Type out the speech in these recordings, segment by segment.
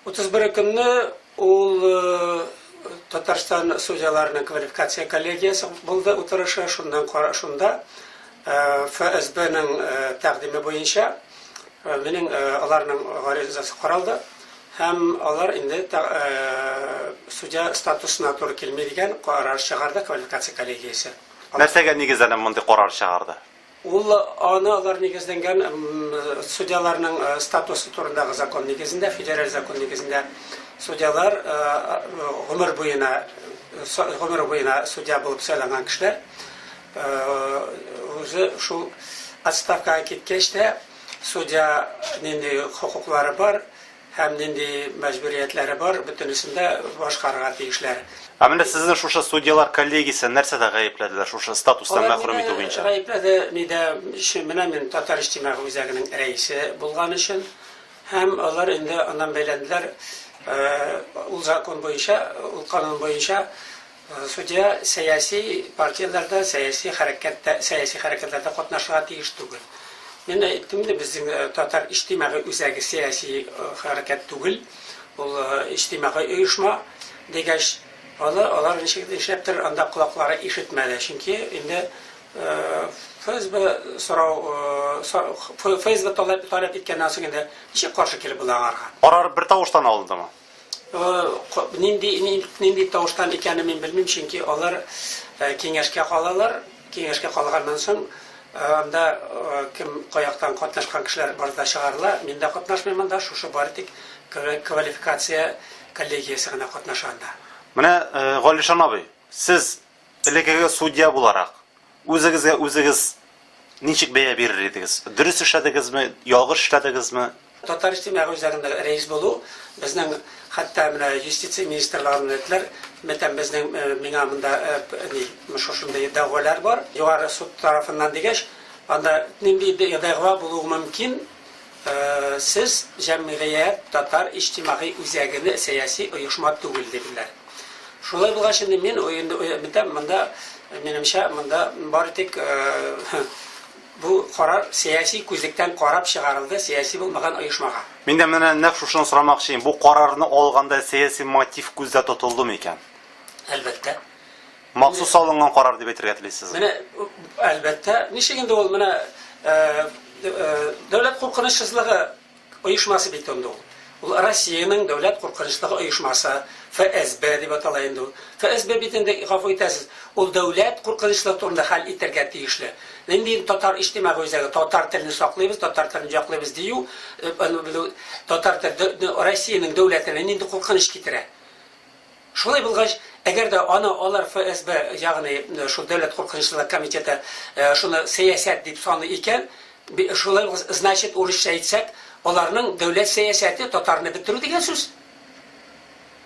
31 көнне ул Татарстан судьяларының квалификация коллегиясе булды утырышы, шуннан шунда ФСБның тәкъдиме буенча минем аларның гаризасы каралды һәм алар инде судья статусына туры килми дигән карар чыгарды квалификация коллегиясе. Нәрсәгә нигезләнеп мондый карар чыгарды? Ул аны алар нигезләнгән судьяларның статусы турындагы закон нигезендә, федераль закон нигезендә судьялар гомер буена гомер буена судья булып сайланган кешеләр үзе шул отставкага киткәч тә судья нинди хокуклары бар, Һәм нинди мәҗбүриятләре бар, бөтенесен дә башкарырга тиешләр. Ә менә сезне шушы судьялар коллегиясе нәрсәдә гаепләделәр, шушы статустан мәхрүм итү буенча? Алар мине гаепләде, нидә, чы, менә мин Татар иҗтимагый үзәгенең рәисе булган өчен. Һәм алар инде аннан бәйләнделәр, ул закон буенча, ул канун буенча, Судья сәяси партияләрдә, сәяси хәрәкәттә, сәяси хәрәкәтләрдә катнашырга тиеш түгел. Мин әйттем инде, безнең татар иҗтимагый үзәге сәяси хәрәкәт түгел, ул иҗтимагый оешма, дигәч, аны алар ничек нишләптер анда колаклары ишетмәде, чөнки инде ФСБ сорау, ФСБ таләп таләп иткәннән соң инде ничек каршы килеп була аңарга? Карар бертавыштан алындымы? Нинди нинди тавыштан икәнен мин белмим, чөнки алар киңәшкә калалар. Киңәшкә калганнан соң, анда кем каяктан катнашкан кешеләр бар да чыгарыла. Мин дә катнашмыйм анда, шушы бары тик квалификация коллегиясе генә катнаша анда. Менә, Галишан абый, сез элекеге судья буларак, Үзегезгә үзегез ничек бәя бирер идегез? Дөрес эшләдегезме, ялгыш эшләдегезме? Татар иҗтимагый үзәгендә рәис булу, безнең хәтта менә юстиция министрлыгыннан әйттеләр, мәтәм безнең миңа монда ни, шушындый дәгъвалар бар, югары суд тарафыннан дигәч, анда нинди дәгъва булуы мөмкин? Сез җәмгыять, татар иҗтимагый үзәгене сәяси оешма түгел диделәр. Шулай булгач инде мин инде өметәм, монда, минемчә, монда бары тик бу карар сәяси күзлектән карап чыгарылды сәяси булмаган оешмага. Мин дә менә нәкъ шушыны сорамакчыйм, бу карарны алганда сәяси мотив күздә тотылдымы икән? Әлбәттә. Махсус салынган карар дип әйтергә телисезме? Менә, әлбәттә. Ничек инде ул менә дәүләт куркынычсызлыгы оешмасы бит инде ул. Ул Россиянең дәүләт куркынычлыгы оешмасы, ФСБ дип атала инде ул. ФСБ бит инде, гафу итәсез, ул дәүләт куркынычлыгы турында хәл итәргә тиешле. Нинди татар иҗтимагый үзәге, татар телен саклыйбыз, татар телен яклыйбыз дию, татар теле Россиянең дәүләтенә нинди куркыныч китерә? Шулай булгач, әгәр дә аны алар ФСБ, ягъни шул дәүләт куркынычсызлык комитеты шуны сәясәт дип саный икән, шулай булгач, значит, урысча әйтсәк, аларның дәүләт сәясәте татарны бетерү дигән сүз.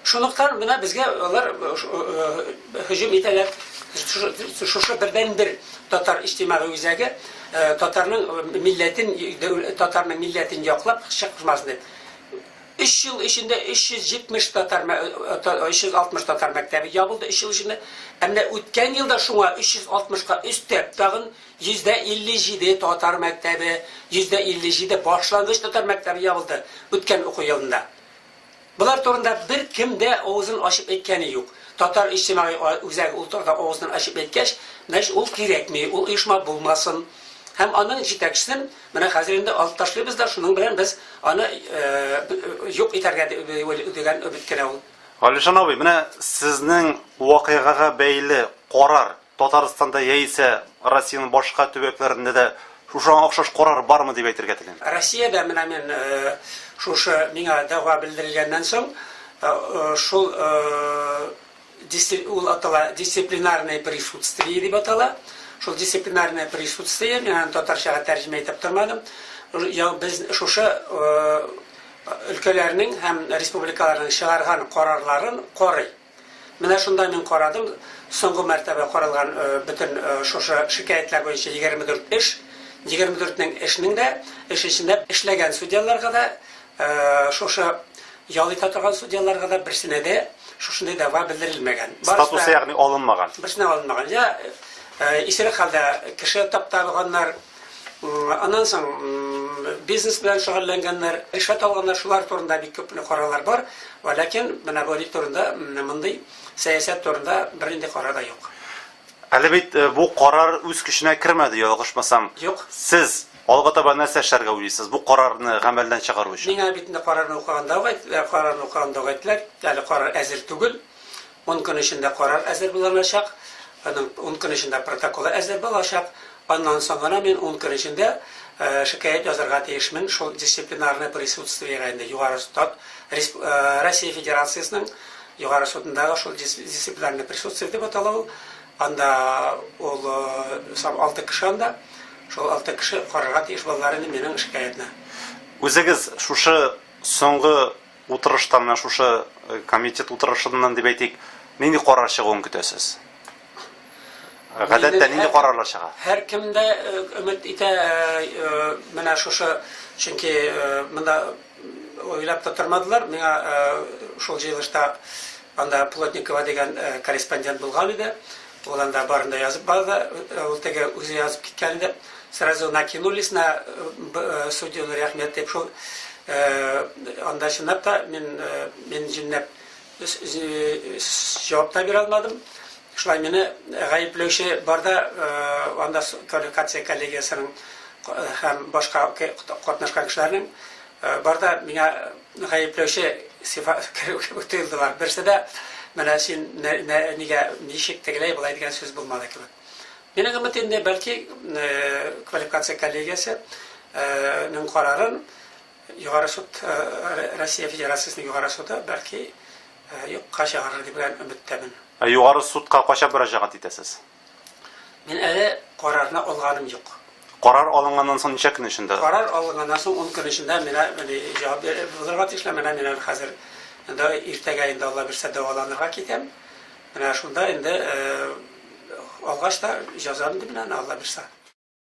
Шунлыктан менә безгә алар һөҗүм итәләр. Шушы бердәнбер татар иҗтимагый үзәге татарның милләтен, татарның милләтен яклап чыкмасын дип. Өч ел эчендә 370 татар, 360 татар мәктәбе ябылды, өч ел эчендә. Ә менә үткән елда шуңа 360 ка өстәп, тагын 57 татар мәктәбе, 57 башлангыч татар мәктәбе ябылды үткән уку елында. Болар турында беркем дә авызын ачып әйткәне юк. Татар иҗтимагый үзәге ул турыда авызын ачып әйткәч, значит, ул кирәкми, ул оешма булмасын. Һәм аның җитәкчесен Менә хәзер инде алып ташлыйбыз да, шуның белән без аны юк итәргә дигән өмет кенә ул. Галишан абый, менә сезнең вакыйгага бәйле карар Татарстанда яисә Россиянең башка төбәкләрендә дә шушы охшаш карар бармы дип әйтергә телим? Россиядә менә мин шушы миңа дәгъва белдерелгәннән соң шул Дисцип ул атала дисциплинарное присутствие дип атала. Шул дисциплинарное присутствие, мин аны татарчага тәрҗемә итеп тормадым. Я без шушы өлкәләрнең һәм республикаларның чыгарган карарларын карый. Менә шунда мин карадым, соңгы мәртәбә каралган э, бөтен э, шушы шикаятьләр буенча 24 эш, 24 нең эшнең дә, эш эчендә эшләгән судьяларга да Шушы ял итә торган судьяларга да берсенә дә шушындый дәгъва белдерелмәгән. Статусы ягъни алынмаган. Берсенә алынмаган. Я исерек хәлдә кеше таптап алганнар, аннан соң бизнес белән шөгыльләнгәннәр, ришвәт алганнар, шулар турында бик күп карарлар бар. Вә ләкин менә бу ни турында, мондый сәясәт турында бернинди карар да юк. Әле бит бу карар үз көченә кермәде, ялгышмасам. Юк. Сез Алга таба нәрсә эшләргә уйлыйсыз бу карарны гамәлдән чыгару өчен? Миңа бит инде карарны укыганда ук әйттеләр, карарны укыганда ук әйттеләр, әле карар әзер түгел, ун көн эчендә карар әзер буланачак, аның ун көн эчендә протоколы әзер булачак, аннан соң гына мин ун көн эчендә шикаять язарга тиешмен шул дисциплинарный присутствиегә инде Югары Суд, Россия Федерациясенең Югары Судындагы шул дисциплинарный присутствие дип атала ул, анда ул сам алты кеше анда. Шул алты кеше карарга тиеш булдылар инде минем шикаятьне. Үзегез шушы соңгы утырышта, менә шушы комитет утырышыннан дип әйтик, нинди карар чыгуын көтәсез? Гадәттә нинди карарлар чыга? Һәр кем дә өмет итә, менә шушы, чөнки монда уйлап та тормадылар, миңа шул җыелышта анда Плотникова дигән корреспондент булган иде. Ул анда барын да язып барды. Ул теге үзе язып киткән иде. Сразу накинулись на судьяны рәхмәт дип шул анда чынлап та мин мин җиннәп җавап та бирә алмадым. Шулай мине гаепләүче бар да анда квалификация коллегиясенең һәм башка катнашкан кешеләрнең Бар да миңа гаепләүче сифа керү кебек тоелдылар. Берсе дә менә син нигә, ничек тегеләй, болай дигән сүз булмады кебек. Минем өмет инде бәлки квалификация коллегиясе нең карарын Югары суд Россия Федерациясенең Югары суды бәлки юкка чыгарыр дигән өметтәмен. Ә Югары судка кайчан мөрәҗәгать итәсез? Мин әле карарны алганым юк. Карар алынганнан соң ничә көн эчендә? Карар алынганнан соң ун көн эчендә миңа җавап булырга тиешләр. Менә мин әле хәзер инде иртәгә инде Алла бирсә дәваланырга китәм. Менә шунда инде алгач та җазам инде менә аны Алла бирсә.